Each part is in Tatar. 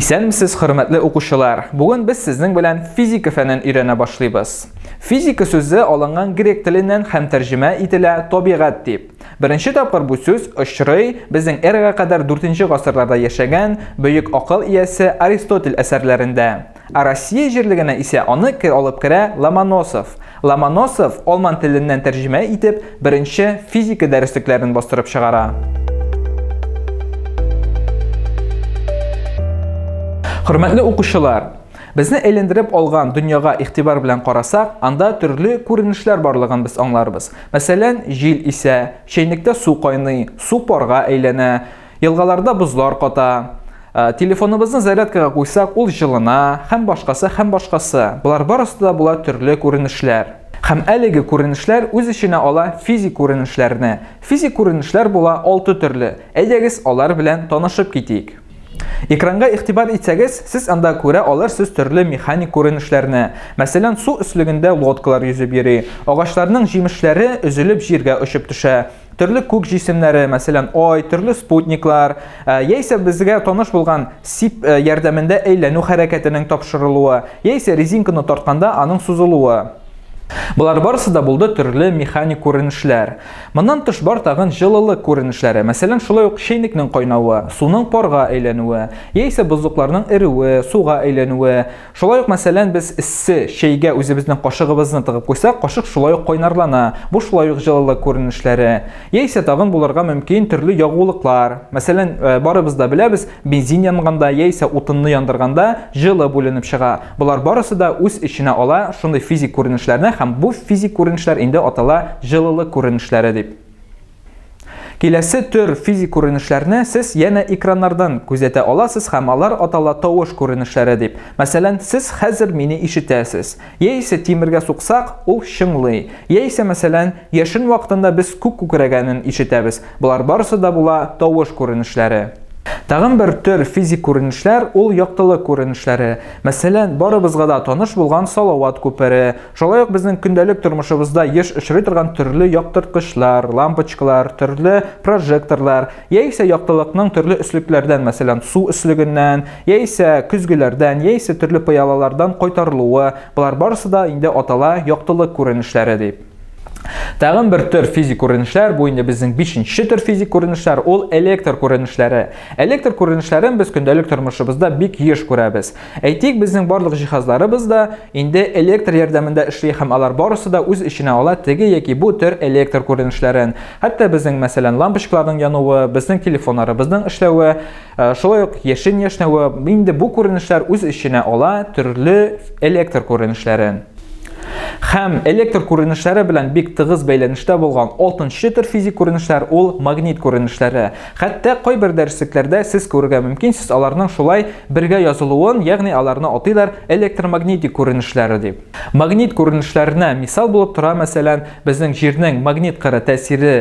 Исәнмесез, хөрмәтле укучылар! Бүген без сезнең белән физика фәнен өйрәнә башлыйбыз. Физика сүзе алынган грек теленнән һәм тәрҗемә ителә табигать дип. Беренче тапкыр бу сүз очрый безнең эрага кадәр 4 гасырларда яшәгән бөек акыл иясе Аристотель әсәрләрендә. Ә Россия җирлегенә исә аны алып керә Ломоносов. Ломоносов алман теленнән тәрҗемә итеп беренче физика дәреслекләрен бастырып чыгара. Хөрмәтле укучылар, безне әйләндереп алган дөньяга игътибар белән карасак, анда төрле күренешләр барлыгын без аңларбыз. Мәсәлән, җил исә, чәйнектә су кайный, су парга әйләнә, Елгаларда бозлар ката. Телефоныбызны зарядкага куйсак, ул җылына, һәм башкасы, һәм башкасы. Болар барысы да була төрле күренешләр. Һәм әлеге күренешләр үз эченә ала физик күренешләрне. Физик күренешләр була алты төрле. Әйдәгез, алар белән танышып китик. Экранга игътибар итсәгез, сез анда күрә алырсыз төрле механик күренешләрне. Мәсәлән, су өслегендә лодкалар йөзеп йөри, агачларның җимешләре өзелеп җиргә очып төшә, Төрле күк җисемнәре, мәсәлән, ай, төрле спутниклар, э, яисә безгә таныш булган сип э, ярдәмендә әйләнү хәрәкәтенең тапшырылуы, яисә резинканы тартканда аның сузылуы. Болар барысы да булды төрле механик күренешләр. Моннан тыш бар тагын җылылык күренешләре. Мәсәлән, шулай ук чәйнекнең кайнавы, суның парга әйләнүе, яисә бозлыкларның эрүе, суга әйләнүе, Шулай ук, мәсәлән, без эссе чәйгә үзебезнең кашыгыбызны тыгып куйсак, кашык шулай ук кайнарлана, бу шулай ук җылылык күренешләре. Яисә тагын булырга мөмкин төрле ягулыклар. Мәсәлән, барыбыз да беләбез, бензин янганда яисә утынны яндырганда җылы бүленеп чыга. Болар барысы да үз эченә ала шундый физик күренешләрне һәм бу физик күренешләр инде атала җылылык күренешләре дип. Киләсе төр физик күренешләрне сез янә экраннардан күзәтә аласыз һәм алар атала тавыш күренешләре дип. Мәсәлән, сез хәзер мине ишетәсез. Яисә тимергә суксак, ул чыңлый. Яисә, мәсәлән, яшен вакытында без күк күкрәгәнен ишетәбез. Болар барысы да була тавыш күренешләре. Тагын бер төр физик күренешләр, ул яктылык күренешләре. Мәсәлән, барыбызга да таныш булган Салават күпере, Шулай ук безнең көндәлек тормышыбызда еш очрый торган төрле яктырткычлар, лампочкалар, төрле прожекторлар, яисә яктылыкның төрле өслекләрдән, мәсәлән, су өслегеннән, яисә көзгеләрдән, яисә төрле пыялалардан кайтарылуы, болар барысы да инде атала яктылык күренешләре дип. Тагын бер төр физик күренешләр, бу инде безнең бишенче төр физик күренешләр, ул электр күренешләре. Электр күренешләрен без көндәлек тормышыбызда бик еш күрәбез. Әйтик, безнең барлык җиһазларыбыз да инде электр ярдәмендә эшли һәм алар барысы да үз эченә ала теге яки бу төр электр күренешләрен. Хәтта безнең, мәсәлән, лампочкаларның януы, безнең телефоннарыбызның эшләве, э, шулай ук яшен яшнәве, инде бу күренешләр үз эченә ала төрле электр күренешләрен. Һәм электр күренешләре белән бик тыгыз бәйләнештә булган 6 төр физик күренешләр ул магнит күренешләре. Хәтта кайбер дәреслекләрдә сез күрергә мөмкинсез аларның шулай бергә язылуын, ягъни аларны атыйлар электромагнитик күренешләре дип. Магнит күренешләренә мисал булып тора, мәсәлән, безнең Җирнең магнит кыры тәэсире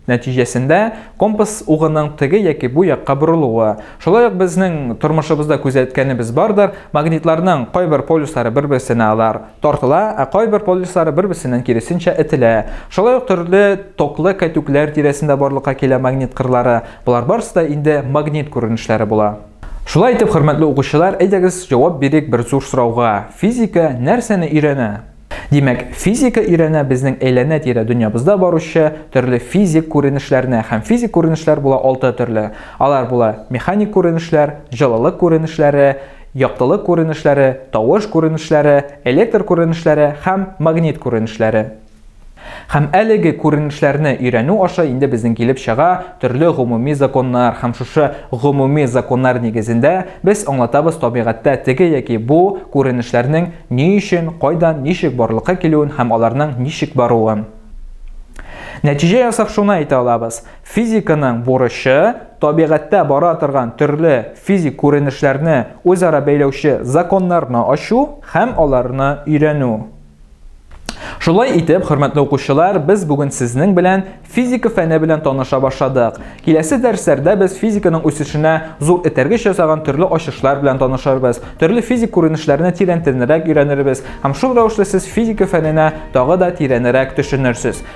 нәтиҗәсендә компас угының теге яки бу якка борылуы. Шулай ук безнең тормышыбызда күзәткәнебез бардыр, магнитларның кайбер полюслары бер-берсенә алар Тартыла, ә кайбер полюслары бер-берсеннән киресенчә этелә. Шулай ук төрле токлы кәтүкләр тирәсендә барлыкка килә магнит кырлары. Болар барысы да инде магнит күренешләре була. Шулай итеп, хөрмәтле укучылар, әйдәгез җавап бирик бер зур сорауга, физика нәрсәне өйрәнә? Димәк, физика өйрәнә безнең әйләнә-тирә дөньябызда баручы төрле физик күренешләрне, һәм физик күренешләр була алты төрле. Алар була, механик күренешләр, җылылык күренешләре, яктылык күренешләре, тавыш күренешләре, электр күренешләре һәм магнит күренешләре. Һәм әлеге күренешләрне өйрәнү аша инде безнең килеп чыга төрле гомуми законнар һәм шушы гомуми законнар нигезендә без аңлатабыз табигатьтә теге яки бу күренешләрнең ни өчен, кайдан, ничек барлыкка килүен һәм аларның ничек баруын. Нәтиҗә ясап шуны әйтә алабыз, Физиканың бурычы, табигатьтә бара торган төрле физик күренешләрне үзара бәйләүче законнарны ачу һәм аларны өйрәнү. Шулай итеп, хөрмәтле укучылар, без бүген сезнең белән физика фәне белән таныша башладык. Киләсе дәресләрдә без физиканың үсешенә зур этәргеч ясаган төрле ачышлар белән танышырбыз, төрле физик күренешләрне тирәнтенрәк өйрәнербез һәм шул рәвешле сез физика фәненә тагы да тирәнрәк төшенерсез.